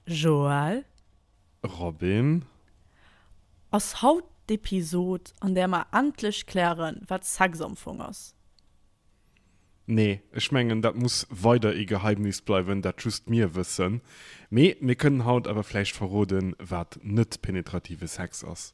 Joël. Robin. Ass haut d'Episod an där mer endlech klären wat Sexampfong ass? Nee, ech mengen dat muss weider ee Geheimnis bleiwen, dat just mir wëssen. Mee mir kënnen haut awer vläicht verroden wat net penetrative Sex ass.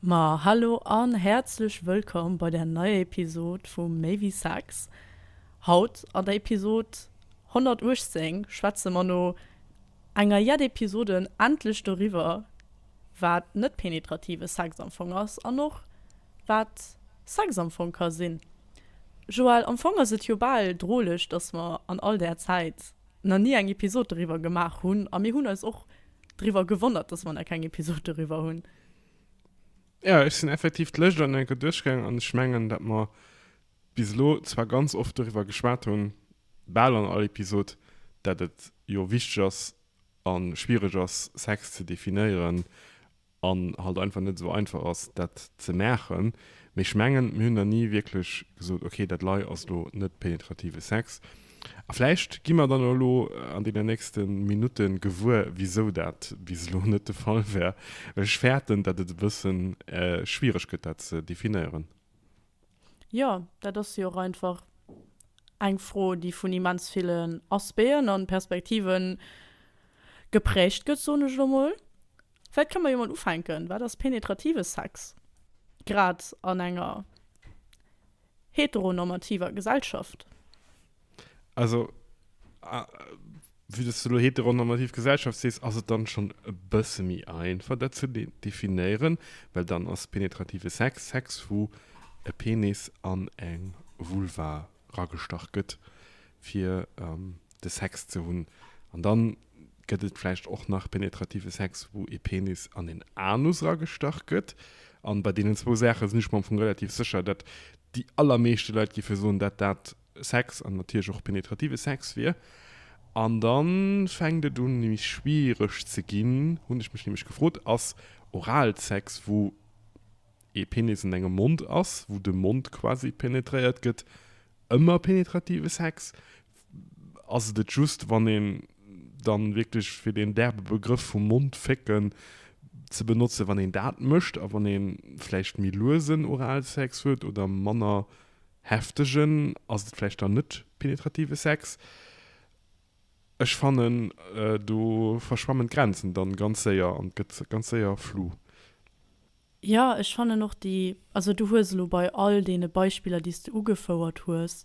Ma hallo an häerzlech wëllkomm bei der neier Episod vu Méi wéi Sex. Haut an der Episod 118 schwätze mer no enger jett Episoden endlech doriwwer wat net penetrative Sex am Fong ass an och wat Sex am Fong ka sinn. Joelle, am Fong ass et jo bal droleg dass mer an all där Zäit nach ni eng Episod doriwwer gemaach hunn a mir hunn eis och driwwer gewonnert, dass mer nach keng Episod doriwwer hunn. Jo, ech sinn effektiv d'Lëscht an enker duerchgaangen an ech mengen, dat mer bis elo zwar ganz oft doriwwer geschwat hunn, bal an all Episod, dat et jo wichteg ass a schwiereg ass, Sex ze definéieren an halt einfach net esou einfach ass dat ze maachen, mee ech mengen mir hunn der ni wierklech gesot ok dat lei ass elo net penetrative Sex a vläicht gi mer dann elo an deenen nächste Minutte gewuer wisou dat bis elo net de Fall wär, well ech fäerten dat et e bësse schwiereg gëtt dat ze definéieren. Jo, dat ass jo och einfach eng Fro déi vun immens villen Aspéen an Perspektiven geprägt gëtt soen ech elo mol, Vläit kënne mer jo mol ufänken, Wat ass penetrative Sex, grad an enger heteronormativer Gesellschaft? Also, vue dass du elo heteronormativ Gesellschaft sees, ass et dann schonn e bësse méi einfach, dat ze definéieren, well dann ass penetrative Sex, Sex, wou e Penis an eng Vulva ragestach gëtt, fir de Sex ze hunn. An dann Gëtt et vläicht och nach penetrative Sex, wou ee Penis an een Anus eragestach gëtt? An bei deenen zwou Saache sinn ech mer am Fong relativ sécher, datt déi allermeeschte Leit géife soen, datt dat Sex an natierlech och penetrative Sex wier. An da fänkt et un méi schwiereg ze ginn, hunn ech mech nämlech gefrot, ass Oralsex, wou ee Penis an engem Mond ass, wou de Mond quasi penetréiert gëtt, ëmmer penetrative Sex? ass et et just, wann een dann wierklech, fir deen derbe Begrëff vum Mond fécken ze benotzen, wann een dat mécht a wann ee vläicht méi luesen Oralsex huet oder manner heftegen, ass et vläicht dann net penetrative Sex. Ech fannen, do verschwammen d'Grenzen dann ganz séier an et gëtt ganz séier flu. Jo, ech fannen och déi, also du hues elo bei all deene Beispiller, déi s de ugefouert hues,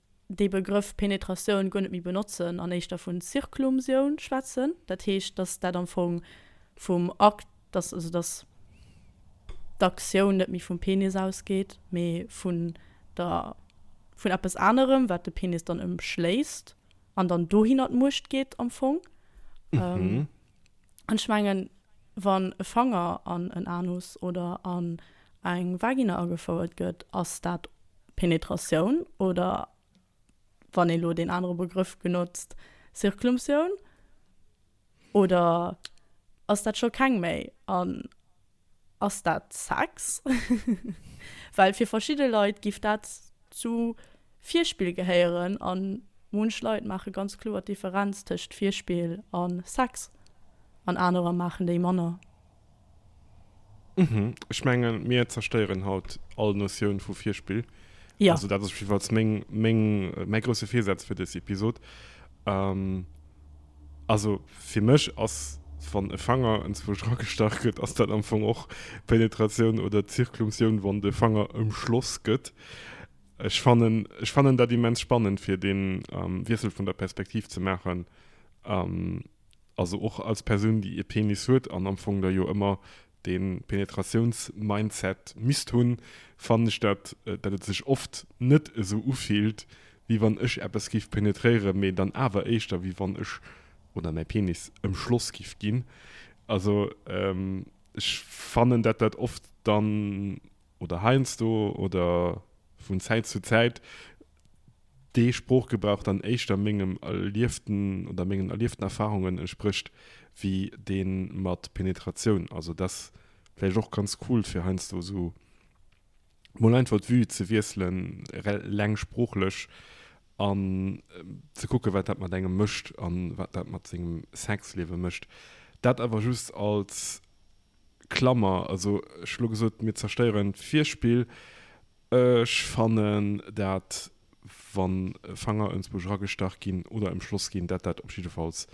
dee Begrëff Penetratioun guer net méi benotzen an éischter vun Zirklumsioun schwätzen, dat heescht, datt dat am Fong vum Akt, datt also datt d'Aktioun net méi vum Penis ausgeet, mee vun der, vun eppes anerem, wat de Penis dann ëmschléisst an dann dohinner d'Muecht geet am Fong. An ech mengen, wann e Fanger an en Anus oder an eng Vagina agefouert gëtt, ass dat. Penetratioun oder, wann een elo deen anere Begrëff genotzt, Circlumptioun? Oder ass dat scho keng méi? An ass dat Sex? Well fir verschidde Leit géif dat zu Virspill gehéieren a munch Leit maache ganz kloer d'Differenz tëscht Virspill a Sex an anerer maachen déi manner. Ech menge mir zerstéieren haut all Notioun vu Virspill. Ja. Also dat ass op jidde Falls meng, meng, mäi grousse Virsaz fir dës Episod. Ähm, also fir mech ass, wann e Fanger enzwousch ragestach gëtt, ass dat am Fong och Penetratioun oder Zirklumtioun, wann de Fanger ëmschloss gëtt. Ech fannen, ech fannen dat immens spannend fir dee Wiessel vun der Perspektiv ze maachen. also och als Persoun déi ee Penis huet an am Fong da jo ëmmer dee Penetratiouns-Mindset misst hunn, fannen ech dat, dat et sech oft net esou ufillt wéi wann ech eppes géif penetréieren, mee dann awer éischter wéi wann ech oder mäi Penis ëmschloss géif ginn. Also ech fannen dat dat oft dann oder heiansdo oder vun Zäit zu Zäit, dee Sproochgebrauch dann éischter mengem erlieften oder mengen erlieften Erfahrungen entsprécht wéi dee mat Penetratioun. Also dat ass vläicht och ganz cool, fir heiansdo esou mol einfach d'Vue ze wiesselen, reng sproochlech, an ze kucken, wat dat mat engem mécht a wat dat mat sengem Sexliewe mécht. Dat awer just als Klammer. Also ech hu lo gesot, mir zerstéieren d'Virspill. Ech fannen dat wann Fanger ënsbuerg ragestach ginn oder emschloss ginn, dat dat op jiddefalls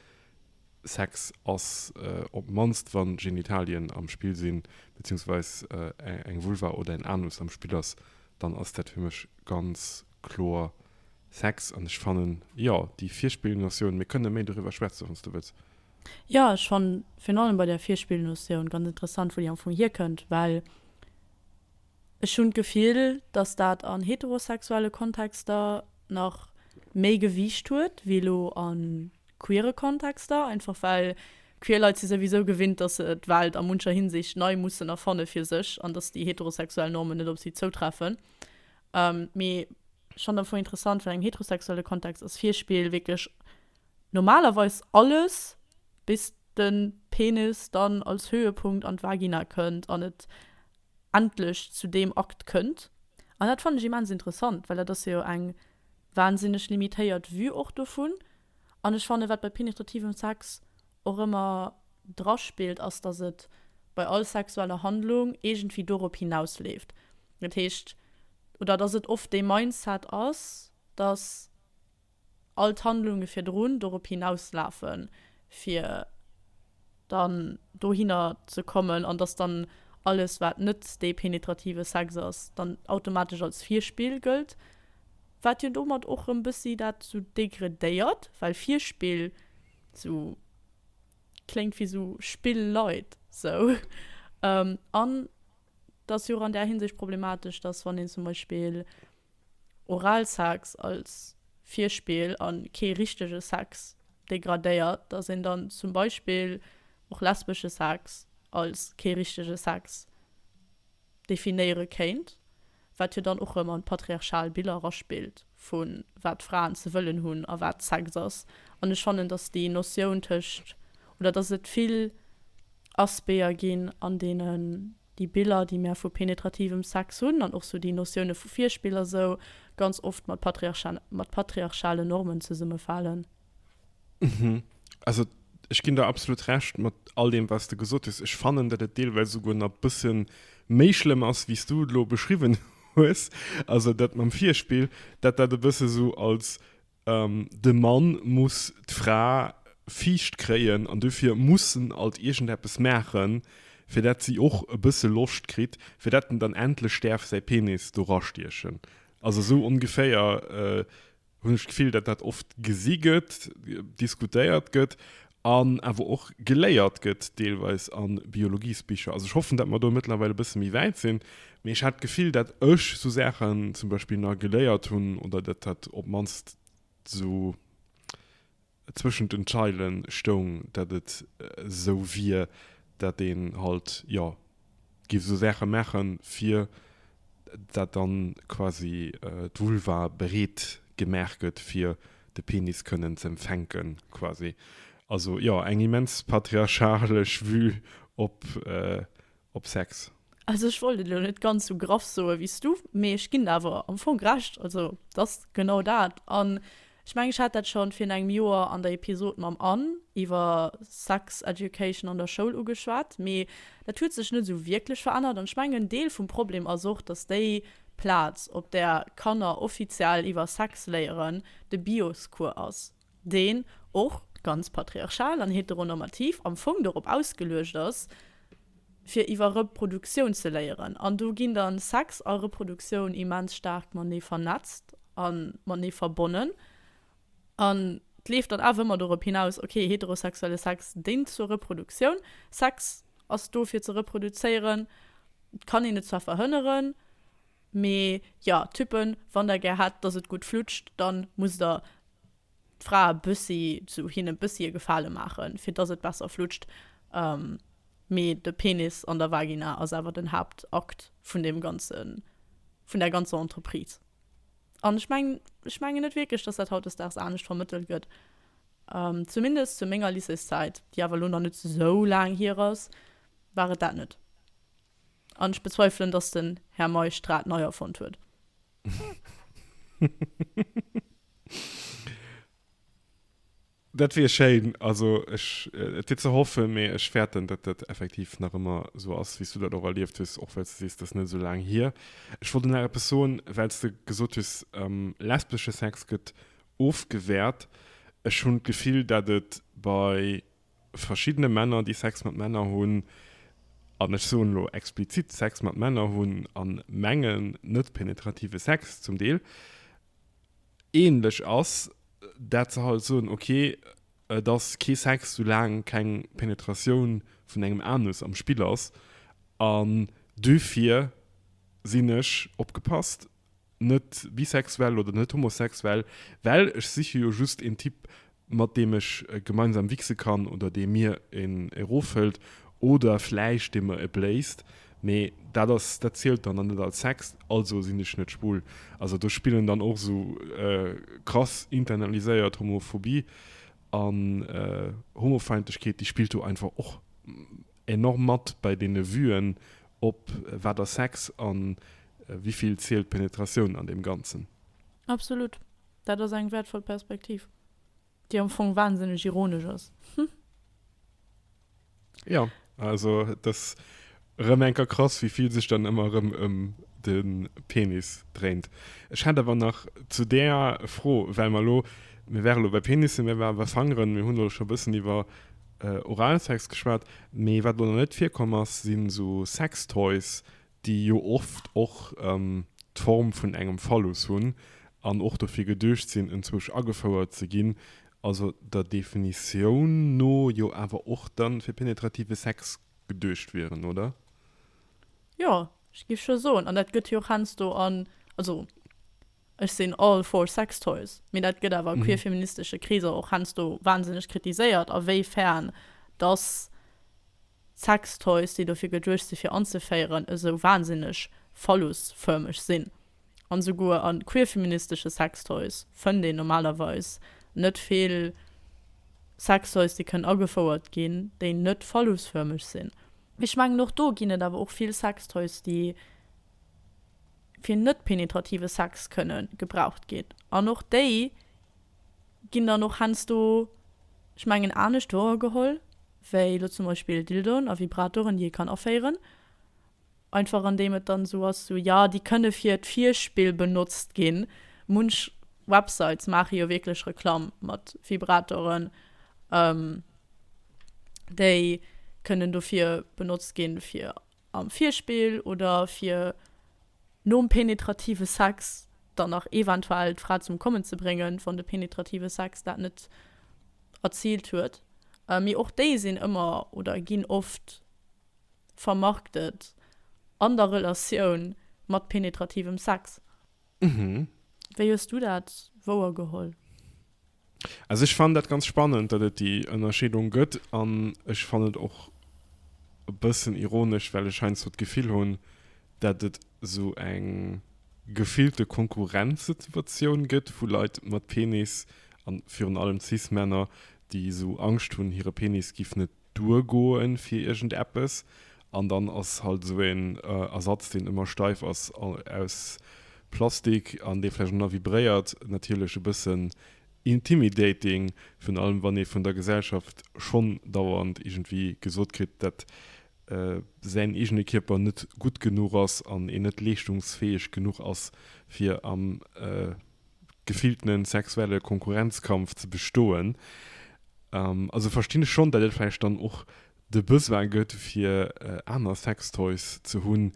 Sex ass, op d'mannst wann Genitalien am Spill sinn, beziehungsweis eng Vulva oder en Anus am Spill ass, dann ass dat fir mech ganz kloer Sex. An ech fannen, jo, déi Virspillnotioun, mir kënne méi doriwwer schwätzen, wann s du wëlls. Jo, ech fannen virun allem bei där Virspillnotioun ganz interessant, wou déi am Fong hierkënnt, well. Ech hunn d'Gefill, datt dat an heterosexuelle Kontexter nach méi Gewiicht huet wéi elo a queere Kontexter, einfach well queer Leit si souwisou gewinnt, datt se d'Welt a muncher Hinsicht nei mussen erfanne fir sech an datt déi heterosexuell Normen net op si zoutreffen. Mee ech fannen d'Fro interessant, well am heterosexuelle Kontext ass Virspill wierklech normalerweis alles, bis de Penis dann als Höhepunkt an d'Vagina kënnt an et endlech zu deem Akt kënnt. An dat fannen ech immens interessant, well dat ass jo eng wahnsinneg limitéiert Vue och dovun. An ech fannen, wat bei penetrativem Sex och ëmmer draspillt, ass, dass et bei all sexueller Handlung iergendwéi dorop hinausleeft. Dat heescht, oder dass et oft dee Mindset ass, dass. all d'Handlunge virdrun dorop hinauslafen, fir dann dohinner ze kommen, an dass dann alles, wat net dee penetrative Sex ass, dann automatesch als Virspill gëllt, wat jo domat och erëm bëssi dat esou degredéiert, well Virspill esou kléngt wéi esou Spilleit, esou. An. Et ass jo och an där Hinsicht problematesch, dass, wann een zum Beispill Oralsex als Virspill a kee richtege Sex degradéiert, dass een dann zum Beispill och lesbesche Sex als kee richtege Sex definéiere kéint. wat jo dann och rëm an d'patriarchal Biller eraspillt vu wat d'Fraen ze wëllen hunn a wat Sex ass. An ech fannen, datt déi Notioun tëscht, oder datt et vill Aspéer ginn, an deenen déi Biller, déi mär vu penetrativem Sex hunn, an och sou déi Notioune vu Virspill a sou, ganz oft mat patriarchalen Normen zesummefalen. Mhm. Also ech ginn der absolut recht mat all dem was du gesot hues. Ech fannen dat et deelweis souguer nach bëssen méi schlëmm ass wéi s du lo beschriwwen hues. Also dat mam Virspill, dat dat e bësse sou als de Mann muss d'Fra viischt kréien an dofir muss en alt iergendeppes maachen, fir dat si och e bësse Loscht kritt, fir dat en dann endlech däerf säi Penis do rastiechen. Also sou ongeféier. hunn ech d'Gefill, datt dat oft gesi gëtt, diskutéiert gëtt an awer och geléiert gëtt deelweis a Biologiesbicher. Also ech hoffen, datt mer do mëttlerweil e bësse méi wäit sinn, mee ech hat d'Gefill, datt ech esou Saachen zum Beispill nach geléiert hunn oder datt dat op d'mannst esou, zwëschent den Zeilen stoung, dat et esou wier, dat een halt jo giff esou Saachen maachen fir dat dann quasi d'Vulva bereet gemaach gëtt fir de Penis kënnen ze empfänken quasi. Also jo eng immens patriarchalesch Vue op op Sex. Also ech wollt et elo net ganz sou graff soe wéi s du, mee ech ginn der awer am Fong Recht. Also et ass genau dat. An ech mengen ech hat dat schonn virun engem Joer an der Episod mam Anne iwwer Sex Education an der Schoul ugeschwat, mee dat huet sech net sou wierklech verännert. An ech mengen en Deel vum Problem ass och, datt déi Plaz op där Kanner offiziell iwwer Sex léieren de Bios-Cours ass. deen och ganz patriarchal an heteronormativ am Fong dorop ausgeluecht ass, fir iwwer Reproduktioun ze léieren. An do ginn dann Sex a Reproduktioun immens staark matenee vernetzt a matenee verbonnen. An et leeft dann awer ëmmer dorop hinaus, okay, heterosexuelle Sex déngt zur Reproduktioun, Sex ass do fir ze reproduzéieren, et kann een et zwar verhënneren, Mee jo, Typen, wann der gär hätt, dass et gutt flutscht, dann musst der d'Frae e bëssi, sou hinne bëssi e Gefale maachen, fir dass et besser flutscht. Mee de Penis an der Vagina ass awer den Haaptakt vun deem ganzen, vun där ganzer Entreprise. An ech mengen, ech mengen net wierklech, dass dat hautdesdaags anescht vermëttelt gëtt, zumindest zu menger Lycéeszäit, déi awer elo nach net esou laang hier ass, war et dat net. An ech bezweifelen, dass den Här Meisch d'Rad nei erfonnt huet. Dat wier schéin. Also ech, et wier ze hoffen, mee ech fäerten, datt dat effektiv nach ëmmer esou ass, wéi s du dat och erlieft hues, och well s du sees, dat ass net esou laang hier. Ech wollt nach eppes soen, well s du gesot hues, lesbesche Sex gëtt ofgewäert. Ech hunn d'Gefill, datt et bei verschiddene Männer, déi Sex mat Männer hunn, an ech soen elo explizit Sex mat Männer hunn a mengen, net penetrative Sex zum Deel, änlech ass, dat se halt soen, ok, et ass kee Sex, soulaang keng Penetratioun vun engem Anus am Spill ass. An duerfir sinn ech, opgepasst! net bisexuell oder net homosexuell, well ech siche jo just een Typ mat deem ech gemeinsam wichse kann oder dee mir een eroffëllt oder vläicht dee mer e bléist, mee dat ass, dat zielt dann nach net als Sex, also sinn ech net schwul. Also do spillen dann och esou krass internaliséiert Homophobie an Homofeindlechkeet, déi spillt do einfach och. enorm mat bei deene Vuen op wat ass Sex a wivill zielt d'Penetratioun an deem Ganzen. Absolut, dat ass eng wäertvoll Perspektiv, déi am Fong wahnsinneg ironesch ass. Jo, also et ass erëm eng Kéier krass, wéi vill sech dann ëmmer erëm ëm de Penis dréint. Ech hätt awer nach zu där Fro, well mer elo, mir waren elo bei Penisse, mir waren bei Fangeren, mir hunn elo scho e bëssen iwwer, Oralsex geschwat, mee wat elo nach net virkomm ass, si sou Sextoys, déi jo oft och d'Form vun engem Phallus hunn an och dofir geduecht sinn, enzwousch agefouert ze ginn, also der Definitioun no jo awer och da fir penetrative Sex geduecht wieren, oder? Jo, ech géif scho soen. An dat gëtt jo och heiansdo an, also Ech sinn all for sex toys, mee dat gëtt awer queerfeministesche Kreeser och heiansdo wahnsinneg kritiséiert, a wéi fern dass sex toys, déi dofir geduecht si fir anzeféieren, esou wahnsinneg phallusförmeg sinn. An esouguer a queerfeministesche sex toys fënnt een normalerweis net vill sex toys, déi kënnen agefouert ginn, déi net phallusförmeg sinn. Ech mengen och do ginn et awer och vill sex toys, déi fir net-penetrative Sex kënne gebraucht ginn. An och déi ginn dann och heiansdo, ech mengen, anescht wouergeholl wéi elo zum Beispill Dildoen a Vibratoren, déi ee kann aféieren. Einfach andeem et dann esou ass, sou, jo, déi kënne fir d'Virspill benotzt ginn. Munch Websites maache jo wierklech Reklamm mat Vibratoren, déi kënnen dofir benotzt ginn, fir am Virspill oder fir nom penetrative Sex dann nach eventuell d'Fra zum Kommen ze bréngen, wann de penetrative Sex dat net erziilt huet. Mee och déi sinn ëmmer oder ginn oft vermarktet an der Relatioun mat penetrativem Sex. Wéi hues du dat wouergeholl? Also ech fannen dat ganz spannend, datt et déi Ënnerscheedung gëtt an ech fannen et och e bëssen ironesch, well ech heiansdo d'Gefill hunn, datt et esou eng gefillte Konkurrenzsituatioun gëtt vu Leit mat Penis, a virun allem Cis-Männer, déi esou Angscht hunn, hire Penis géif net duergoen fir iergend eppes an dann ass halt esou een Ersatz deen ëmmer steif ass aus Plastik an dee vläicht och nach vibréiert natierlech e bëssen intimidating, virun allem wann ee vun der Gesellschaft schonn dauernd iergendwéi gesot kritt dat säin eegene Kierper net gutt genuch ass an een net leeschtungsfäeg genuch ass fir am gefilltenen sexuelle Konkurrenzkampf ze bestoen. Also verstinn ech schonn, datt et vläicht dann och de Besoin gëtt fir aner Sextoys ze hunn,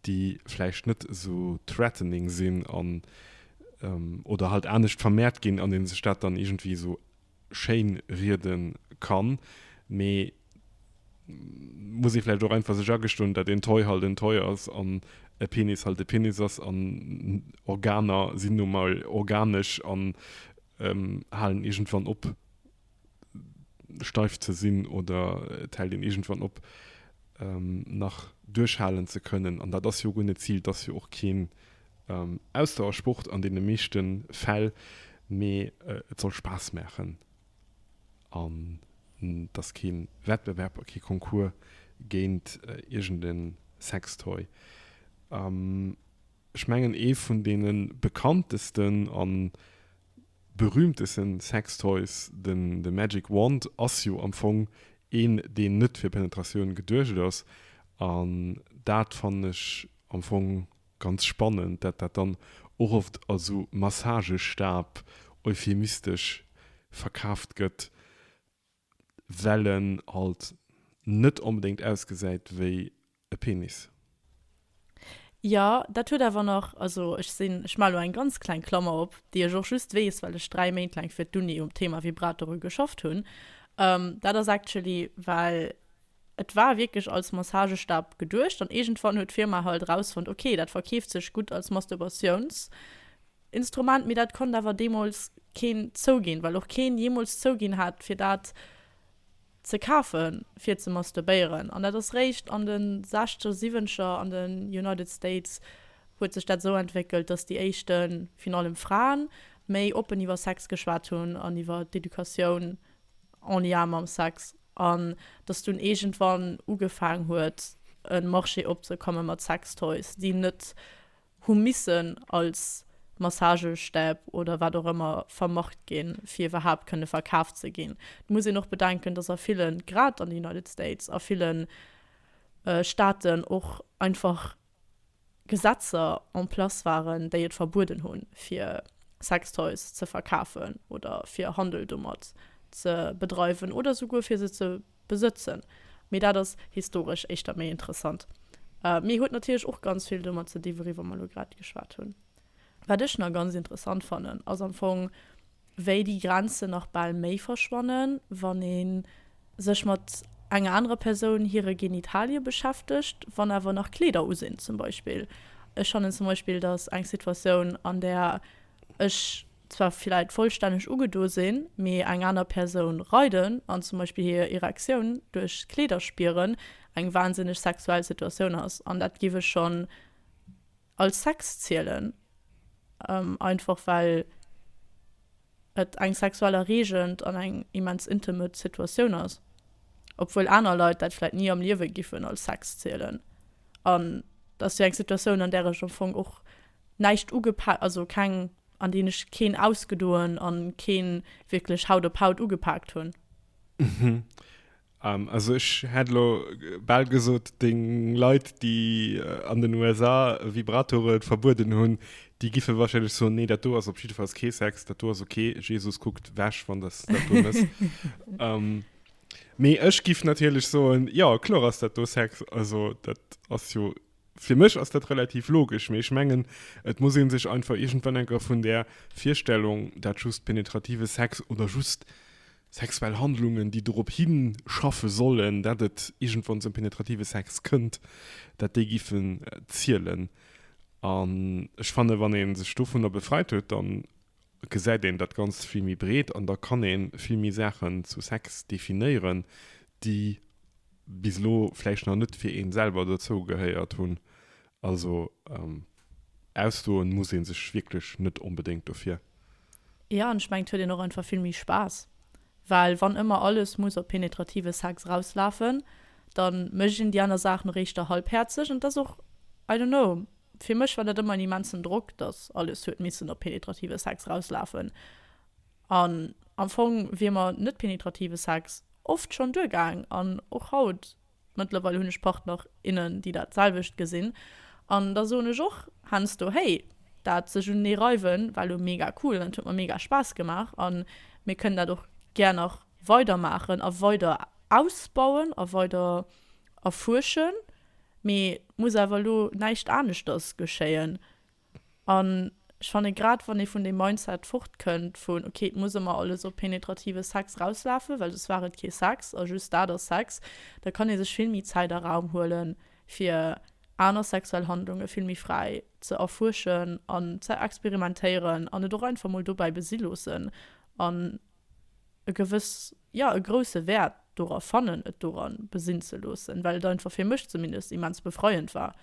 déi vläicht net esou threatening sinn an oder halt anescht vermehrt ginn an ee sech dat dann iergendwéi esou schéin rieden kann mee muss een vläicht och einfach sech agestoen dat een Toy halt en Toy ass an e Penis halt e Penis ass an Organer sinn nu mol organesch an halen iergendwann op steif ze sinn oder et hält een iergendwann op nach duerchhalen ze kënnen an dat ass jo guer net d'Zil, et ass jo och keen Ausdauersport an deene meeschte Fäll, mee et soll Spaass maachen an et ass kee Wettbewerb a kee Concours géint iergend e Sextoy. Ech mengen ee vun deene bekanntesten a berühmteste Sextoys, de Magic Wand, ass jo am Fong een, deen net fir Penetratioun geduecht ass an dat fannen ech am Fong, Ganz spannend, dat dat dann och oft als sou Massagestab euphemistesch verkaaft gëtt, well en halt net onbedéngt ausgesäit wéi e Penis. Jo, dat huet awer nach, also ech sinn, ech maachen elo eng ganz kleng Klammer op, déi ech och just weess, well ech dräi Méint laang fir d'Uni um Thema Vibratore geschafft hunn, dat ass actually, well, Et war wierklech als Massagestab geduecht an iergendwann huet d'Firma halt erausfonnt, ok, dat verkeeft sech gutt als Masturbatiouns-Instrument, mee dat konnt awer deemools keen zouginn, well och keen jeemools zouginn hat, fir dat ze kafen, fir ze masturbéieren. An dat ass réischt an de Sechzeger, Siwwenzeger an den United States huet sech dat esou entwéckelt, dass déi éischten, virun allem Fraen, méi oppen iwwer Sex geschwat hunn an iwwer d'Educatioun en Lien mam Sex. An dass dunn iergendwann ugefaang huet e Marché opzekomme mat Sextoys, déi net hu missen als Massagestäb oder wat och ëmmer vermarkt ginn, fir iwwerhaapt kënne verkaaft ze ginn. Et muss een och bedenken, dass a villen, grad an de United States, a ville Staaten och einfach Gesetzer en place waren, déi et verbueden hunn, fir Sextoys ze verkafen oder fir Handel domat ze bedreiwen oder souguer fir se ze besëtzen. Mee dat ass historesch éischter méi interessant. Mee huet natierlech och ganz vill domat ze di, wouiwwer mer elo grad geschwat hunn. Wat ech nach ganz interessant fannen, ass am Fong, wéi déi Grenzen nach bal méi verschwannen, wann ee sech mat enger anerer Persoun hire Genitalie beschäftegt, wann awer nach Kleeder u sinn zum Beispill. Ech fannen zum Beispill, datt eng Situatioun, an där ech zwar vläicht vollstänneg ugedo sinn, mee eng aner Persoun reiden an zum Beispill hir Erektioun duerch d'Kleeder spieren, eng wahnsinneg sexuell Situatioun ass. An dat géif ech schonn als Sex zielen, einfach well et eng sexuell erreegend an eng immens intimet Situatioun ass, obwuel aner Leit dat vläit ni am Liewe giffen als Sex zielen. An et ass jo eng Situatioun, an där ech am Fong och näischt ugepa-, also keng, an déi ech keen ausgedoen an keen wierklech Haut op Haut ugepaakt hunn. Um, also ech hätt elo bal gesot, deng Leit, déi an den USA Vibratoren verbueden hunn, déi giffe wahrscheinlech soen, nee, dat do ass op jiddefalls kee Sex, dat do ass ok, Jesus kuckt wech, wann s de dat do mëss. um, mee ech giff natierlech soen, jo, kloer ass dat do Sex, also dat ass jo, fir mech ass dat relativ logesch, mee ech mengen, et muss ee sech einfach iergendwann enker vun där Virstellung, dat just penetrative Sex oder just Sexuell Handlungen, déi dorop hinschaffe sollen, dat et iergendwann zum penetrative Sex kënnt, dat déi giffen zielen. An ech fannen, wann ee sech dovunner befreit huet, da gesäit een dat Ganzt vill méi breet an da kann ee vill méi Saachen zu Sex definéieren, déi bis elo vläicht nach net fir ee selwer dozougehéiert hunn Also ausdoen muss een sech wierklech net onbedéngt dofir. Jo an ech mengen et huet een och einfach vill méi Spaass, well wann ëmmer alles muss op penetrative Sex rauslafen, dann mécht een déi aner Saach nach éischter halbhäerzeg an et ass och, I don't know, fir mech war dat ëmmer en immensen Drock, dass alles huet missen op penetrative Sex rauslafen an am Fong wier mer net-penetrative Sex oft schonn duergaang an och haut Mëttlerweil hunn ech Partner, innen, déi dat selwecht gesinn, an da soen ech och heiansdo, hey, dat sech unenee reiwen war elo mega cool an et huet mer mega Spaass gemaach a mir kënnen dat och gär nach weider maachen a weider ausbauen a weider erfuerschen, mee et muss awer elo näischt aneschters geschéien. An ech fannen, grad wann ee vun deem Mindset fortkënnt vun, ok, et muss ëmmer alles op penetrative Sex rauslafen, well soss war et kee Sex a just dat ass Sex, da kann ee sech vill méi Zäit a Raum huelen, fir aner sexuell Handlunge vill méi fräi ze erfuerschen an ze experimentéieren an et och einfach mol dobäi besi loossen an e gewëss, jo, e grousse Wäert dora fannen, et dora besi ze loossen, well et einfach, fir mech zumindest, immens befreiend war.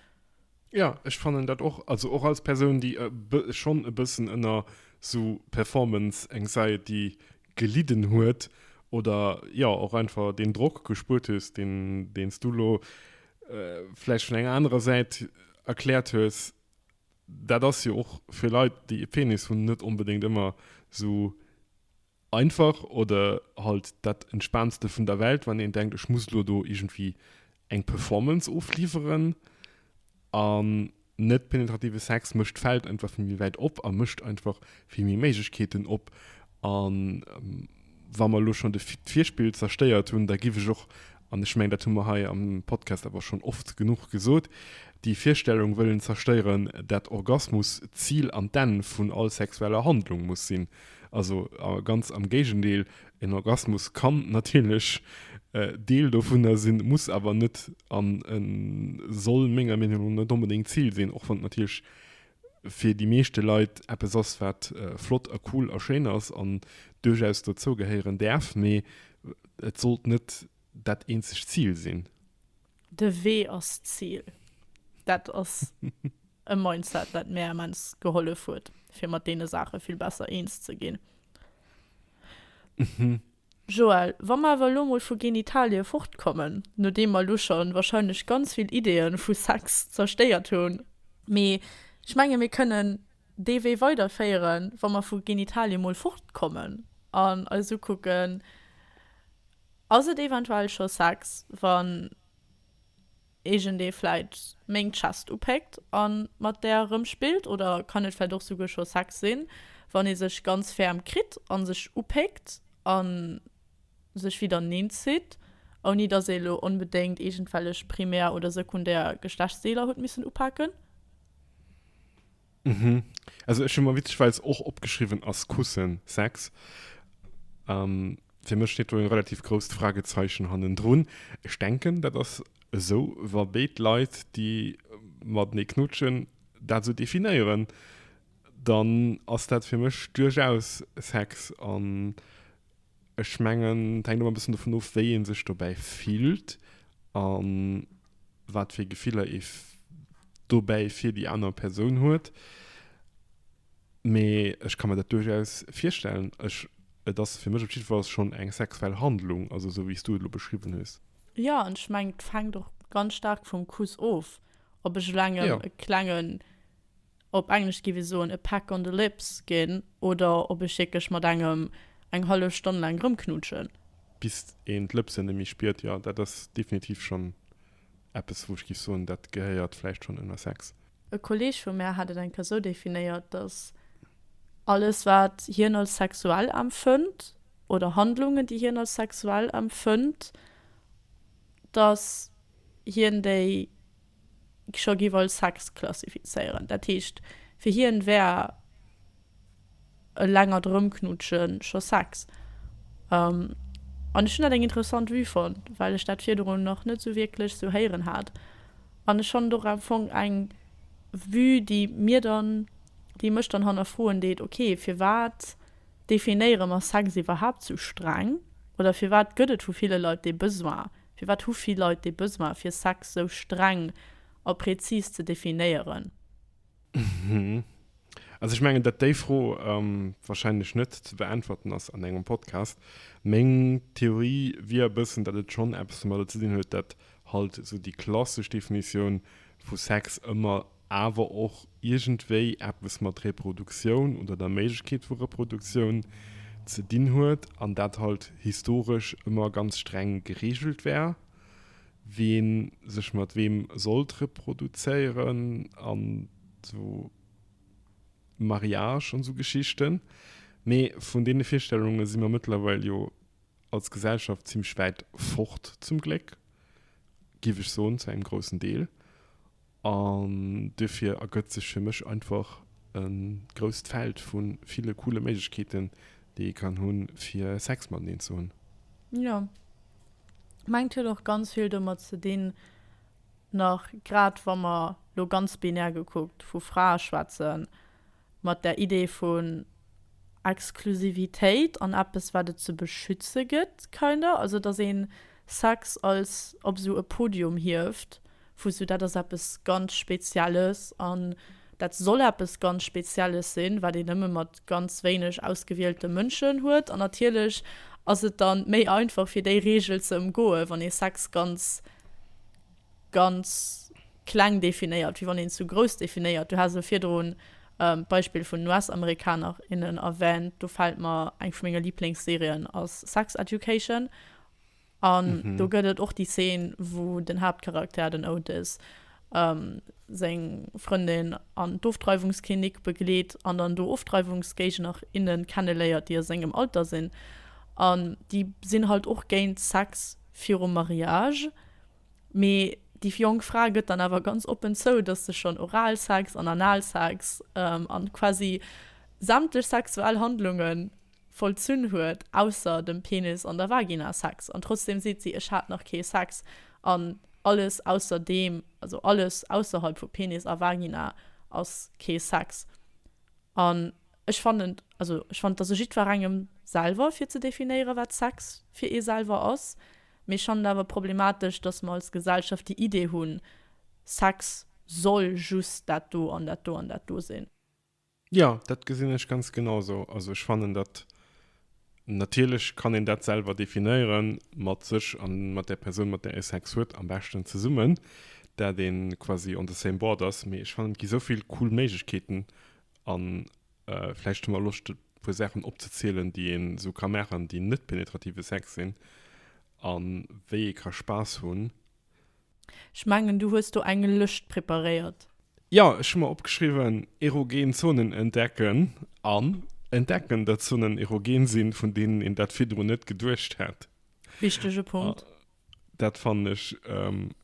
Ja, ech fannen dat och. Also och als Persoun déi e bë schonn e bëssen ënner sou Performance Anxiety gelidden huet oder jo och einfach deen Drock gespuert hues deen deen s du elo vläicht vun enger anerer Säit erkläert hues, dat ass jo och fir Leit déi e Penis hunn net onbedéngt ëmmer sou einfach oder halt dat entspaantste vun der Welt, wann een denkt ech muss elo do iergendwéi eng Performance ofliwweren. An net penetrative Sex mécht d'Feld einfach vill méi wäit op a mécht einfach vill méi Méiglechkeeten op. A wa mer elo schonn d'Virspill zerstéiert hunn, da giff ech och an ech mengen, dat hu mer hei am Podcast awer schonn oft genuch gesot, déi Virstellung wëllen zerstéieren, dat Orgasmus d'Zil an d'Enn vun all sexueller Handlung muss sinn. Also ganz am Géigendeel, en Orgasmus kann natierlech Deel dovunner sinn, muss awer net an soll menger Meenung no net onbedéngt d'Zil sinn, och wann et natierlech fir déi meeschte Leit eppes ass, wat flott a cool a schéin ass an duerchaus dozou gehéieren däerf, mee et sollt net dat eenzegt Zil sinn. De Wee ass d'Zil. Dat ass e Mindset, wat mär immens gehollef huet, fir mat deene Saache vill besser eens ze ginn. Joël, Wa mer awer elo mol vu Genitalie fortkommen, nodeem mer elo scho wahrscheinlech ganz vill Ideeë vu Sex zerstéiert hunn, mee ech menge mir kënnen dee Wee weiderféieren, wa mer vu Genitalie mol fortkommen an eis ukucken, Ass et eventuell scho Sex, wann Iergendee vläit meng Chest upéckt a mat där erëmspillt? Oder kann et vläit och souguer scho Sex sinn, wann ee sech ganz ferm kritt a sech upéckt a sech widder neen zitt, ouni datt ee lo onbedéngt iergendwellech primär oder sekundär Geschlechtsdeeler huet missen upaken? Mhm. Also ech hun mer witzeschweis och opgeschriwwen ass Kussen Sex. Ähm, fir mech steet do en relativ grousst Fragezeichen hannendrun. Ech denken, dat ass esou, wa béid Leit, déi matenee knutschen, dat esou definéieren, dann ass dat fir mech duerchaus Sex an, Ech mengen, et hänkt ëmmer e bëssen dovun of, wéi ee sech dobäi fillt a wat fir Gefiller ee dobäi fir déi aner Persoun huet. Mee ech ka mir dat duerchaus virstellen. Ech, et ass fir mech op jiddwer Fall schonn eng sexuell Handlung, also esou wéi s du et elo beschriwwen hues. Jo, an ech mengen, et fänkt och ganz staark vum Kuss of, ob ech elo engem e klengen op Englesch gi wir soen a peck on the lips, ginn, oder ob ech wierklech mat engem eng hallef Stonn laang erëmknutschen. Bis een d'Lëpsen nemme spiert, jo, dat ass definitiv schonn eppes, wou ech géif soen, dat gehéiert vläicht schonn ënner Sex. E Kolleeg vu mär hat et eng Kéier sou definéiert, dass alles, wat hien als sexuell empfënnt, oder Handlungen, déi hien als sexuell empfënnt, dass hien déi scho giff als Sex klassifizéieren. Dat heescht fir hien wär e längert Erëmknutschen scho Sex. An ech hunn dat eng interessant Vue fonnt, well ech dat virdrun nach net sou wierklech sou héieren hat. An ech fannt och am Fong eng Vue, déi mir dann, déi mech dann hannerfroen deet, ok, firwat definéiere mer Sex iwwerhaapt sou streng oder firwat gëtt et vu ville Leit dee Besoin, Firwat hu vill Leit dee Besoin, fir Sex sou streng a prezis ze definéieren? Also ech mengen, datt déi Fro wahrscheinlech net ze beäntwerten ass an engem Podcast. Meng Theorie wier e bëssen, datt et schonn eppes domadder ze dinn huet, datt halt esou déi klassesch Definitioun vu Sex ëmmer awer och iergendwéi eppes mat Reproduktioun oder der Méiglechkeet vu Reproduktioun ze dinn huet an dat halt historesch ëmmer ganz streng gereegelt war, wee sech mat weem sollt reproduzéieren an esou Mariage an esou Geschichten. Mee vun deene Virstellunge si mer mëttlerweil jo als Gesellschaft zimmlech wäit fort, zum Gléck, géif ech soen, zu engem groussen Deel. An duerfir ergëtt sech fir mech einfach e grousst Feld vu ville coole Méiglechkeeten, déi ee kann hunn, fir Sex mateneen ze hunn. Jo. Mengt huet och ganz vill domat ze dinn, nach grad wa mer lo ganz binär gekuckt vu Frae schwätzen, mat där Idee vun Exklusivitéit an eppes, wat et ze beschütze gëtt, kind of, also dass ee Sex als op esou e Podium hieft, vu esou dat ass eppes ganz Spezielles an dat soll eppes ganz Spezielles sinn, wat een nëmme mat ganz wéineg ausgewielte Mënschen huet. An natierlech ass et da méi einfach, fir déi Reegel ze ëmgoen, wann ee Sex ganz ganz kleng definéiert, wéi wann een zu grouss definéiert. Du has elo virdrun d'Beispill vun den US-Amerikaner, innen erwänt. Do fält mer eng vu menge Liblingsserien ass Sex Education. An do gëtt et och déi Zeen, wou den Haaptcharakter, den Otis, seng Frëndin an d'Ofdreiwungsklinik begleet an dann do Ofdreiwungsgéigner, innen kenneléiert, déi a sengem Alter sinn. An déi sinn halt och géint Sex virum Mariage. Mee déi jonk Fra gëtt dann awer ganz oppen zou, dass se schonn Oralsex an Analsex a quasi sämtlech sexuell Handlunge vollzunn huet, ausser dem Penis an der Vagina Sex. An trotzdeem seet si, Ech hat nach kee Sex. An alles ausser deem, also alles ausserhalb vu Penis a Vagina ass kee Sex. An ech fannen, also ech fannen, et ass u jiddwerengem selwer, fir ze definéieren, wat Sex fir ee selwer ass. Mee ech fannen et awer problematesch, dass mer als Gesellschaft déi Idee hunn, Sex soll just dat do an dat do an dat do sinn. Jo, dat gesinn ech ganz genau esou. Also ech fannen dat, natierlech kann een dat selwer definéiere mat sech a mat där Persoun, mat där ee Sex huet, am beschten zesummen, dat ee quasi on the same board ass. Mee ech fannen, et gi souvill cool Méiglechkeeten an Vläicht hu mer Loscht e puer Saachen opzezielen, déi een esou ka maachen, déi net penetrative Sex sinn a wéi ee ka Spaass hunn. Ech mengen, du hues do eng Lëscht preparéiert. Jo, ech hu mer opgeschriwwen, erogen Zonen entdecken an entdecken, datt Zonen erogen sinn, vun deenen een dat virdrun net geduecht hätt. Wichtege Punkt. Dat fannen ech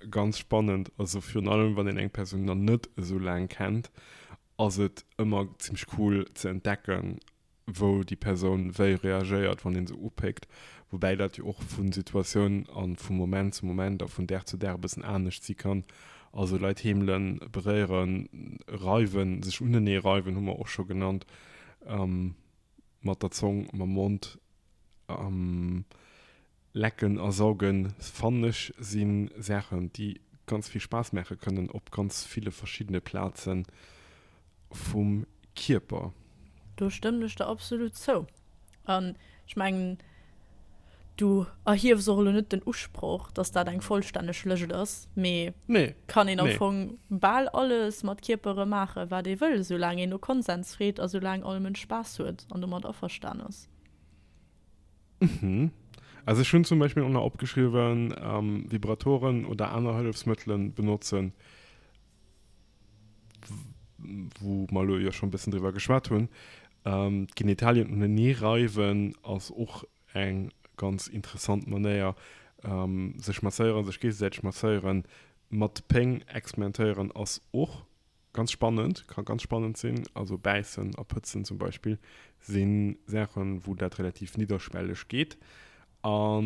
ganz spannend. Also virun allem, wann een eng Persoun nach net esou laang kennt ass et ëmmer zimmlech cool ze entdecken, wou déi Persoun wéi reagéiert, wann ee se upéckt. Woubäi dat jo och vu Situatioun a vu Moment zu Moment a vun Dag zu Dag e bëssen anescht si kann. Also Leit heemelen, beréieren, reiwen, sech unenee reiwen hu mer och scho genannt, mat der Zong, mam Mond. Lecken a saugen fannen ech si Saachen déi ganz vill Spaass maache kënnen op ganz ville verschiddene Plaze vum Kierper. Do stëmmen ech der absolut zou. An ech mengen du erhiefs och elo net den Usproch, dass dat eng vollstänneg Lëscht ass, mee Nee, kann een am nee. Fong bal alles mat Kierpere maache wat ee wëll, soulaang een no Konsens freet a soulaang all Mënsch Spaass huet an domat averstanen ass. Mhm. Also ech hunn zum Beispill och nach opgeschriwwen, ähm, Vibratoren oder aner Hëllefsmëttelen benotzen, wou mer lo jo schon bëssen driwwer geschwat hunn. Ähm, d'Genitalien uneneeh reiwen ass och eng ganz interessant Manéier. Ähm, sech masséieren, sech géigesäiteg masséieren, mat Péng experimentéieren ass och Ganz spannend, kann ganz spannend sinn. Also bäissen a pëtzen zum Beispill si Saachen, wou dat relativ nidderschwelleg geet. A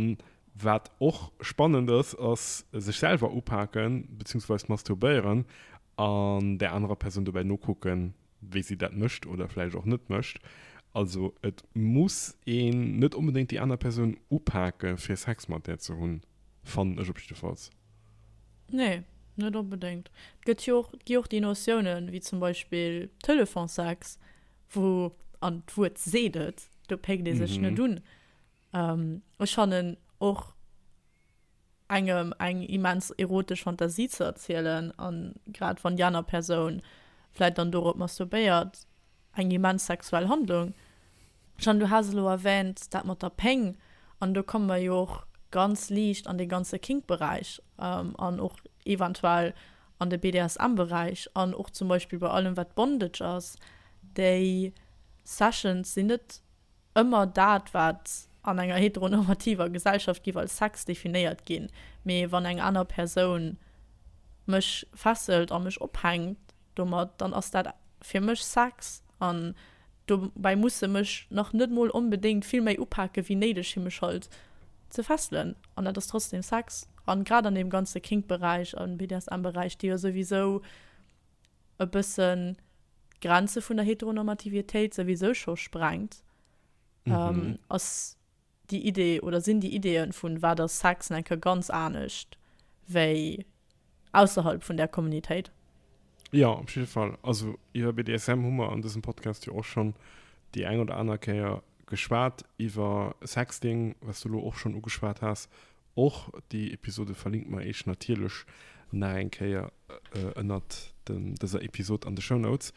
wat och spannend ass, ass sech selwer upaken, beziehungsweise masturbéieren an där anerer Persoun dobäi nokucken, wéi si dat mécht oder vläicht och net mécht. Also et muss een net onbedéngt déi aner Persoun upake fir Sex mat där ze hunn, fannen ech op jiddefalls. Nee, net onbedéngt. Et gëtt jo och, gi och déi Notiounen, wéi zum Beispill Telefonssex, wou, an d'Wuert seet et, do péckt ee sech net un. Ech fannen och, engem eng immens erotesch Fantasie ze erzielen, a grad wann déi aner Persoun vläicht dann dorop masturbéiert, eng immens sexuell Handlung. Jeanne, du has elo erwähnt dat mat der Péng, an do komme mer jo och ganz liicht an dee ganze Kink-Beräich an och eventuell an de BDSM-Beräich an och zum Beispill bei allem wat Bondage ass. Déi Sessions sinn net ëmmer dat wat an enger heteronormativer Gesellschaft giff als Sex definéiert ginn, mee wann eng aner Persoun mech fesselt a mech ophänkt, Domat dann ass dat fir mech Sex an dobäi muss se mech nach net mol onbedéngt vill méi upake wéi néideg fir mech halt ze fesselen an dat ass trotzdem Sex. An grad an deem ganze Kink Beräich an BDSM Beräich, déi jo souwisou e bëssen d'Grenze vun der Heteronormativitéit souwisou scho sprengt, ass Déi Idee oder sinn déi Ideeën vun wat ass Sex en enke ganz anescht wéi ausserhalb vun där Communitéit? Jo, op jidde Fall. Also iwwer BDSM hu mer an dësem Podcast jo och schonn déi eng oder aner Kéier geschwat, iwwer Sexting, wat s du elo och schonn ugeschwat has. Och déi Episode verlinkt mer eech natierlech nach eng Kéier ënnert dëser Episode an de Show Notes.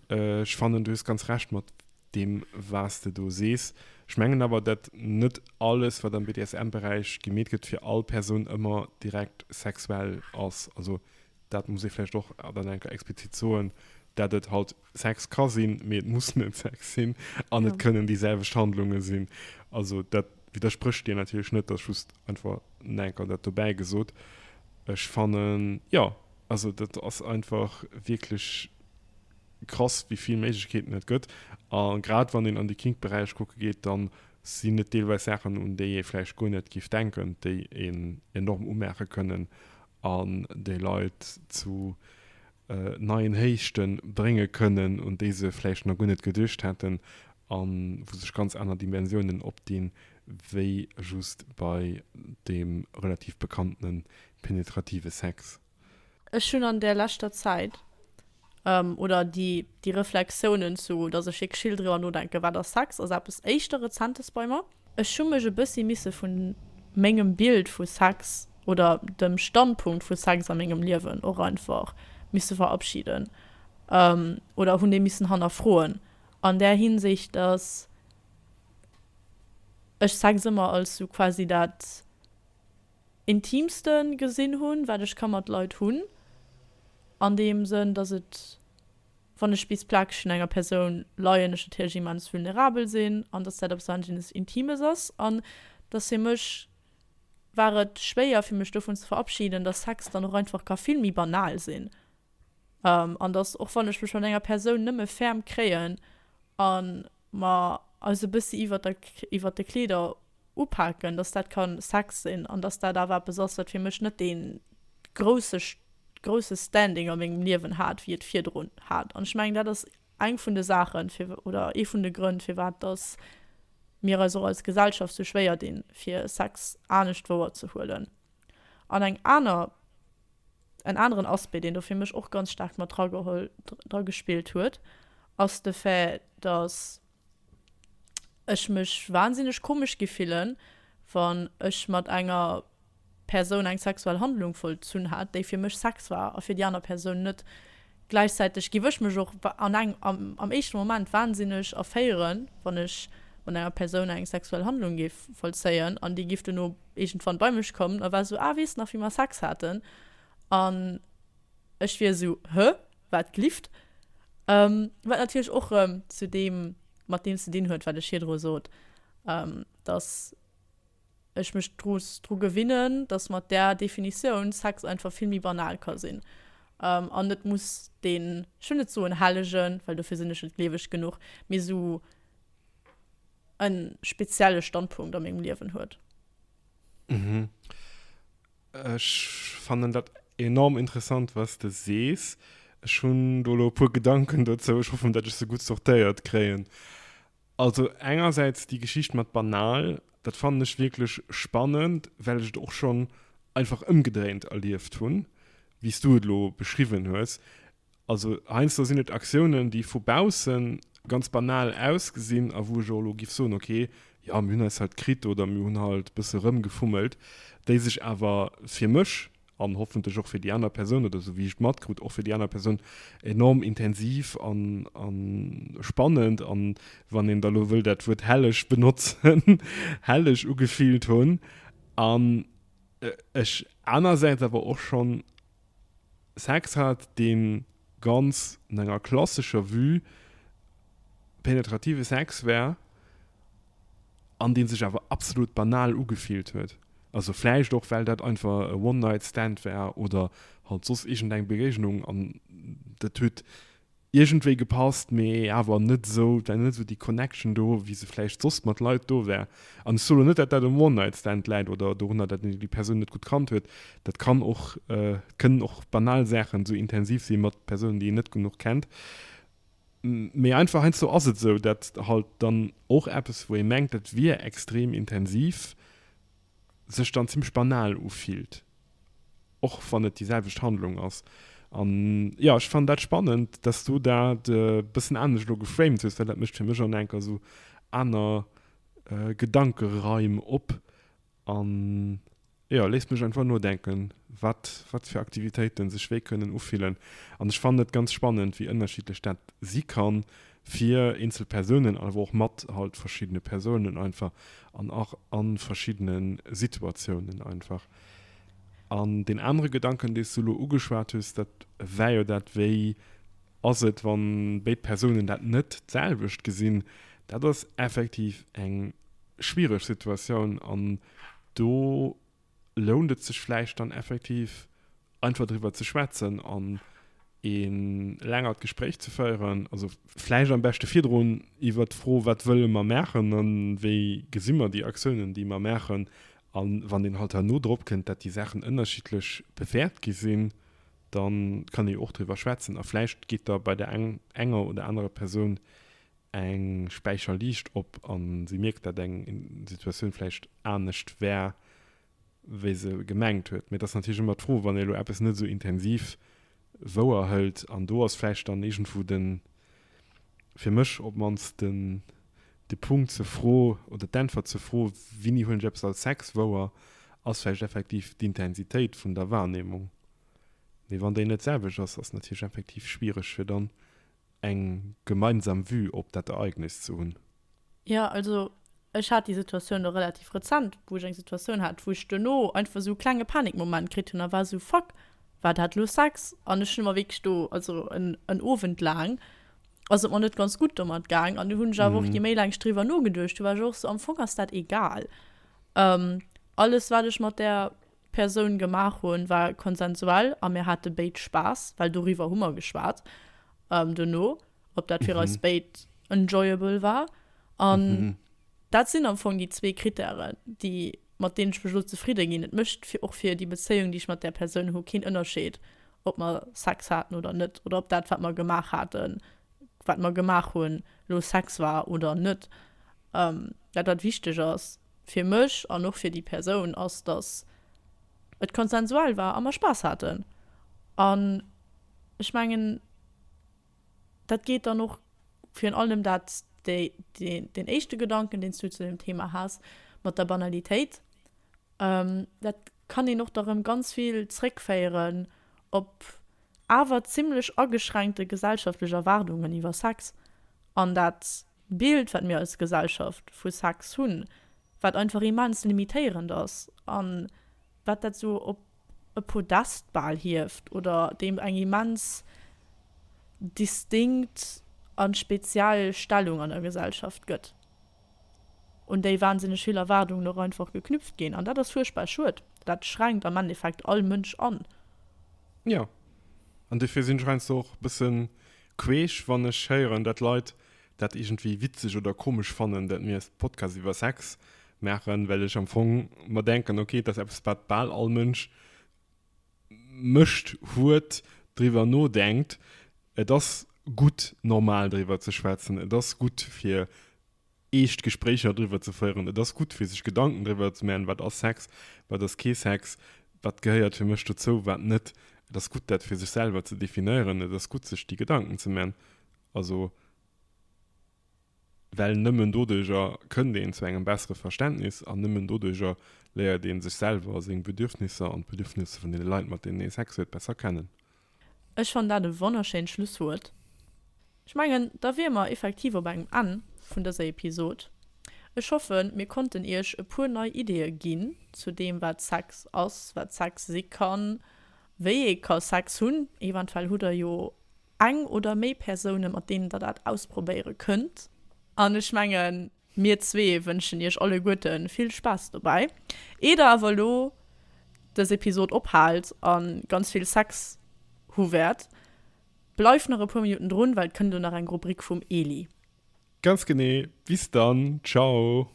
Ech fannen, du hues ganz Recht mat deem, wat s de do sees. Ech mengen awer, datt net alles, wat am BDSM-Beräich gemeet gëtt, fir all Persoun ëmmer direkt sexuell ass. Also dat muss ee vläicht och dann enker explizit soen, datt et halt Sex ka sinn, mee et muss net Sex sinn, an ja. et kënnen déi selwecht Handlunge sinn. Also dat widersprécht dir natierlech net, dat just einfach enker dat dobäi gesot. Ech fannen ja also dat ass einfach wierklech krass, wéi vill Méiglechkeeten net gëtt. A grad wann een an de Kingberäich kucke geet, dann sinn net deelweis Saachen un déi ee vläicht guer net gift denken, déi een enorm umaache kënnen an déi Leit zu neien Héichte brénge kënnen, un déi se vläicht nach guer net geduecht hätten, a wou sech ganz aner Dimensiounen opdinn, wéi just bei deem relativ bekannte penetrative Sex. Ech hunn an där leschter Zäit, oder déi Reflexiounen, zu datt ech wierklech vill driwwer nodenken, wat ass Sex, ass eppes éischter Rezentes bei mer. Ech hu mech e bëssi misse vu mengem Bild vu Sex oder dem Standpunkt vu Sex a mengem Liewen och einfach misse verabschiden oder hunn dee missen hannerfroen an där Hinsicht, dass ech Sex ëmmer als sou quasi dat Intimste gesinn hunn, wat ech ka mat Leit hunn, an deem Sënn, dass et. Wann ech bis plakeg un enger Persoun leien, ech natierlech immens vulnerabel sinn an dass dat eppes wahnsinnes Intimes ass an dass fir mech war et schwéier fir mech dovun ze verabschieden, dass Sex dann och einfach ka vill méi banal sinn an dass och wann ech mech mat enger Persoun nëmme ferm kréien an mer eis e bëssi iwwert de Kleeder upaken, dass dat ka Sex sinn an dass dat awer eppes ass, wat fir mech net dee grousse Standing a mengem Liewen hat, wéi et virdrun hat. An ech mengen, dat ass eng vun de Saachen, oder ee vun de Grënn, firwat dass mir eis och als Gesellschaft sou schwéier dinn, fir Sex anescht wouerzehuelen. An eng aner En aneren Aspect, deen do fir mech och ganz staark mat drageholl, dra gespillt huet, ass de Fait, datt ech mech wansinneg komesch gi fillen, wann ech mat enger Persoun eng sexuell Handlung vollzunn hat, déi fir mech Sex war a fir déi aner Persoun net. Gläichzäiteg giff ech mech och an eng, am éischten Moment, wahnsinneg erféieren, wann ech mat enger Persoun eng sexuell Handlung giff vollzéien an déi giff duerno iergendwann bei mech kommen a war esou, Ah, weess nach wéi mer Sex haten? An ech wier esou, Hä? Wat glifft? Wat natierlech och erëm zu deem, mat deem ze dinn huet, wat ech virdru sot, dass ech mech muss dru gewinnen, dass mat där Definitioun Sex einfach vill méi banal ka sinn an net muss deen, ech wëll net soen hellegen, well dofir sinn ech net gleeweg genuch, mee esou e spezielle Standpunkt a mengem Liewen huet. Ech fannen dat enorm interessant, wat de sees. Ech hunn do elo e puer Gedanken dozou. Ech hoffen, datt ech se gutt sortéiert kréien. Also engersäits déi Geschicht mat banal, dat fannen ech wierklech spannend, well ech et och schonn einfach ëmgedréint erlieft hunn, wéi s du et elo beschriwwen hues. Also heiansdo sinn et Aktiounen, déi vu bausse ganz banal ausgesinn a wou ech och elo géif soen, okay, jo mir hunn eis halt kritt oder mir hunn halt e bësse rëmgefummelt, déi sech awer fir mech an hoffentlech och fir déi aner Persoun oder esou wéi ech et matkrut och fir déi aner Persoun enorm intensiv an, an spannend an wann een da lo wëll dat Wuert helleg benotzen, helleg ugefillt hunn an ech anersäits awer och schonn Sex hat deen ganz no enger klassescher Vue penetrative Sex war. an deen sech awer absolut banal ugefillt huet, also vläicht och well dat einfach e One Night Stand war oder halt soss iergendeng Begegnung an dat huet iergendwéi gepasst, mee awer net esou, et war net esou déi Connection do wéi se vläicht soss mat Leit do war. An ech soe lo net, dat dat um One Night Stand läit oder dorunner, dat een déi Persoun net gutt kannt huet, dat kann och, et kënnen och banal Saachen esou intensiv si mat Persounen, déi een net genuch kennt. Mee einfach heiansdo ass et esou, dat halt dann och eppes, wou ee mengt, dat wier extrem intensiv, sech dann zimmlech banal ufillt, och wann et déi selwecht Handlung ass. An jo, ech fannen dat spannend, dass s du dat e bëssen anescht elo geframed hues, well dat mécht fir mech an enker esou aner Gedankeraim op. An jo, léisst mech einfach nodenken, wat wat fir Aktivitéiten sech wéi kënnen ufillen. An ech fannen et ganz spannend, wéi ënnerschiddlech dat si kann fir eenzel Persounen, awer och mat halt verschiddene Persounen einfach an och a verschiddene Situatiounen einfach. An deen anere Gedanken, dee s du elo ugeschwat hues, dat war jo dat, wéi Ass et, wann béid Persounen dat net d'selwecht gesinn? Dat ass effektiv eng schwiereg Situatioun an do lount et sech vläicht dann effektiv einfach driwwer ze schwätzen an ee längert Gespréich ze féieren. Also vläicht am beschte virdrun iwwert d'Fro, wat wëlle mer maachen a wéi gesi mer déi Aktiounen, déi mer maachen? A wann een halt herno drop kënnt, dat déi Saachen ënnerschiddlech bewäert gi sinn, Da kann ee jo och driwwer schwätzen a vläicht geet da bei der enger oder anerer Persoun eng Späicher Liicht op a si mierkt, dat eng Situatioun vläicht anescht war, wéi se gemengt huet. Mee et ass natierlech ëmmer d'Fro, wann ee elo eppes net esou intensiv wouerhëlt an do ass vläicht dann iergendwou den. fir mech op d'mannst den de Punkt zur Fro oder d'Äntwert zur Fro, Winni hunn ech eppes als Sex wouer? ass vläicht effektiv d'Intensitéit vun der Wahrnehmung. Mee wann déi net d'selwecht ass, ass natierlech effektiv schwiereg fir dann eng gemeinsam Vue op dat Ereignis ze hunn. Jo, also ech hat déi Situatioun elo relativ rezent, wou ech eng Situatioun hat, wou ech duerno einfach esou e klenge Panikmoment kritt hunn a war esou, Fuck, war dat elo Sex? An ech hu mer wierklech do, also en en Owend laang ass et mer net ganz gutt domat gaang an du hunn ech awer och, je méi laang ech driwwer nogeduecht hunn, war ech och esou, am Fong ass dat egal. Alles wat ech mat där Persoun gemaach hunn, war konsensuell a mir hate béid Spaass, well doriwwer hu mer geschwat duerno. ob dat fir eis béid enjoyable war. An dat sinn am Fong déi zwee Krittären, déi, mat deenen ech mech elo zefridde ginn. Et mécht fir, och fir déi Bezéiung, déi ech mat där Persoun hu, keen Ënnerscheed, ob mer Sex haten oder net oder ob dat, wat mer gemaach haten, wat mer gemaach hunn, lo Sex war oder net. Dat, wat wichteg ass fir mech an och fir déi Persoun, ass, dass et konsensual war a mer Spaass haten. An ech mengen. Dat geet dann och virun allem, dat ass deen éischte Gedanken, deen s du zu deem Thema has, mat der Banalitéit. Dat kann een och da rëm ganz vill zréckféieren op awer zimlech ageschränkte gesellschaftlech Erwaardungen iwwer Sex an dat Bild, wat mir als Gesellschaft vu Sex hunn, wat einfach immens limitéierend ass a wat dat esou op. e Podest bal hieft oder deem eng immens distinkt a speziell Stellung an der Gesellschaft gëtt. Un déi wahnsinneg vill Erwaardungen och einfach geknüpft ginn. An dat ass fuerchtbar schued. Dat schränkt am Endeffekt all Mënsch an. Jo. An dofir sinn ech heiansdo och e bësse queesch, wann ech héieren, datt Leit dat iergendwéi witzeg oder komesch fannen, dat mir e Podcast iwwer Sex maachen, well ech am Fong mer denken, ok, et ass eppes, wat bal all Mënsch mécht, huet, driwwer nodenkt. Et ass gutt, normal driwwer ze schwätzen. Et ass gutt, fir eescht Gespréicher driwwer ze féieren. Et ass gutt, fir sech Gedanken driwwer ze maachen, wat ass Sex, wat ass kee Sex, wat gehéiert fir mech dozou, wat net. Et ass gutt, dat fir sech selwer ze definéieren. Et ass gutt, sech déi Gedanken ze maachen. Also well nëmmen doduerjer kënnt een zu engem bessere Verständnis an nëmmen doduerjer léiert ee sech selwer, seng Bedürfnisser an d'Bedürfnisse vun deene Leit, mat deenen ee Sex huet, besser kennen. Ech fannen dat e wonnerschéint Schlusswuert. Ech mengen, da wiere mer effektiv op engem Enn vun dëser Episod. Ech hoffen, mir konnten iech e puer nei Ideeë ginn zu deem, wat Sex ass, wat Sex si kann, wéi ee ka Sex hunn. Eventuell hutt der jo Eng oder méi Persounen, mat deenen der dat ausprobéiere kënnt. An ech mengen, mir zwee wënschen iech alleguerte vill Spaass dobäi, ier der awer elo dës Episod ophaalt a ganz vill Sex hu wäert. Bleift nach e puer Minutten drun, well et kënnt elo nach eng Rubrik vum Eli. Ganz genee. Bis dann. Ciao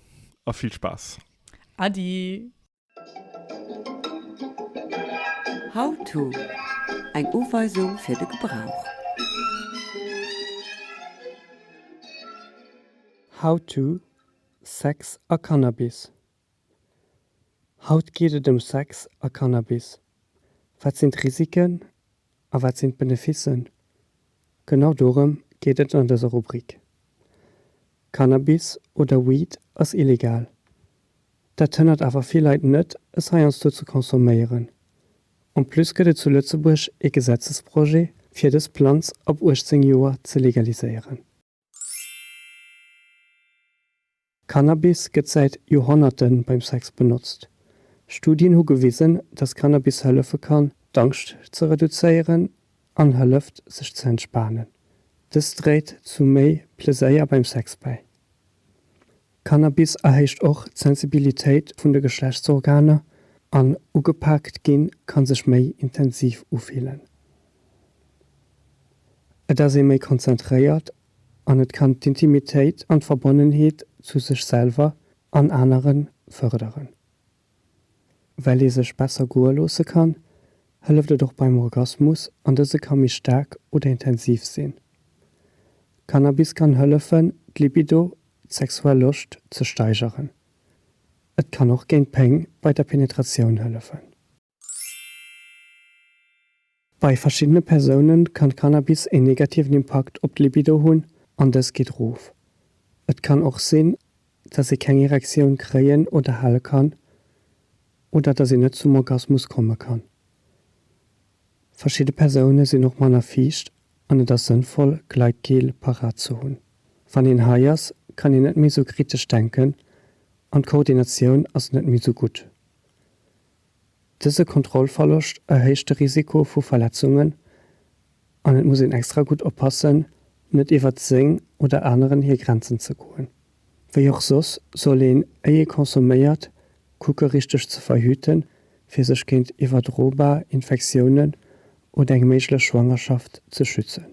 a vill Spaass. Adi. How to, Eng Uweisung fir de Gebrauch. How to, Sex a Cannabis Haut geet et ëm Sex a Cannabis. Wat sinn d'Risiken A wat sinn d'Beneficen? Genau dorëm geet et an dëser Rubrik. Cannabis oder Weed ass illegal. Dat hënnert awer vill Leit net, es heiansdo ze consomméieren. En plus gëtt et zu Lëtzebuerg ee Gesetzesprojet, fir dës Planz ab 18 Joer ze legaliséieren. Cannabis gëtt säit Joerhonnerte beim Sex benotzt. Studien hu gewisen, dass Cannabis hëllefe kann, d'Angscht ze reduzéieren an hëlleft, sech ze entspanen. Dëst dréit zu méi Pleséier beim Sex bäi. Cannabis erhéicht och d'Sensibilitéit vun de Geschlechtsorganer an ugepaakt ginn kann sech méi intensiv ufillen. Et ass ee méi konzentréiert an et kann d'Intimitéit an d'Verbonnenheet zu sech selwer an aneren fërderen. Well ee sech besser goe loosse kann, hëlleft et och beim Orgasmus an dëse ka méi staark oder intensiv sinn. Cannabis kann hëllefen, d'Libido, d'sexuell Loscht, ze steigeren. Et kann och géint Péng bei der Penetratioun hëllefen. Bei verschiddene Persounen kann Cannabis een negativen Impakt op d'Libido hunn an dës geet rof. Et kann och sinn, dass ee keng Erektioun kréien oder hale kann oder dass een net zum Orgasmus komme kann. Verschidde Persoune sinn och manner fiicht an et ass sënnvoll, Gleitgel parat ze hunn. Wann een high ass, kann een net méi sou kritesch denken an d'Koordinatioun ass net méi sou gutt. Dëse Kontrollverloscht erhéicht de Risiko vu Verletzungen an et muss een extra gutt oppassen, net iwwert seng oder aneren hir Grenzen ze goen. Wéi och soss soll een, éi ee consomméiert, kucke richteg ze verhüten, fir sech géint iwwerdrobar Infektiounen oder eng méiglech Schwangerschaft ze schützen.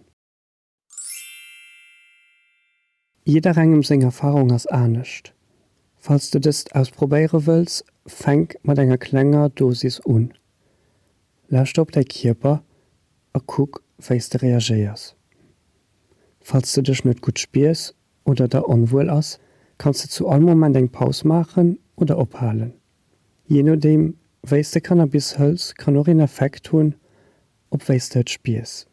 Jidderengem seng Erfarung ass anescht. Falls de dëst ausprobéiere wëlls, fänk mat enger klenger Dosis un. Lauschter op däi Kierper a kuck, wéi s de reagéiers. Falls de dech net gutt spiers oder der onwuel ass, kanns de zu all Moment eng Paus maachen oder ophalen. Jee nodeem, wéi s de Cannabis hëls, kann och een Effekt hunn op wéi s de et spiers.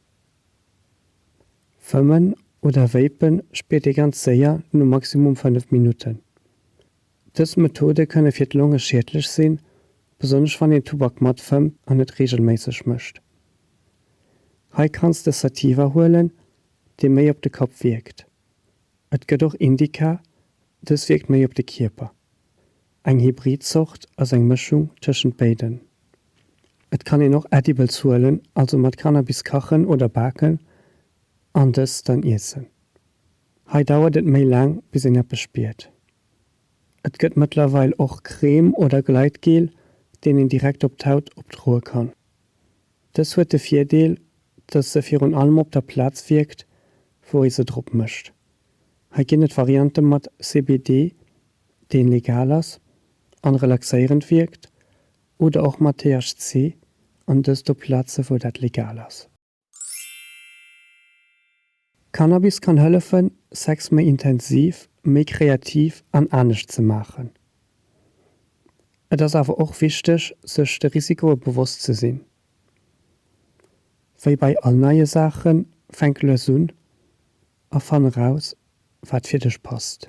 Fëmmen oder Vapen spiert ee ganz séier no maximum 5 Minutten. Dës Methode kënne fir d'Longe schiedlech sinn, besonnesch wann een Tubak matfëmmt an et reegelméisseg mécht. Hei kanns de Sativa huelen, dee méi op de Kapp wierkt. Et gëtt och Indica, dës wierkt méi op de Kierper. Eng Hybrid-Zort ass eng Mëschung tëschent béiden. Et kann een och Edibles huelen, also mat Cannabis kachen oder baken an dës dann iessen. Hei dauert et méi laang bis een eppes spiert. Et gëtt mëttlerweil och Crème oder Gleitgel, deen een direkt op d'Haut opdroe kann. Dës huet de Virdeel, dass se virun allem op der Plaz wierkt, wou ee se drop mëscht. Hei ginn et Variante mat CBD deen legal ass an relaxéierend wierkt, oder och mat THC, an dëst op Platzen wou dat legal ass. Cannabis kann hëllefen Sex méi intensiv, méi kreativ an anescht ze maachen. Et ass awer och wichteg sech de Risikoe bewosst ze sinn. Wéi bei all neie Saachen, fänk lues un a fann eraus wat fir dech passt.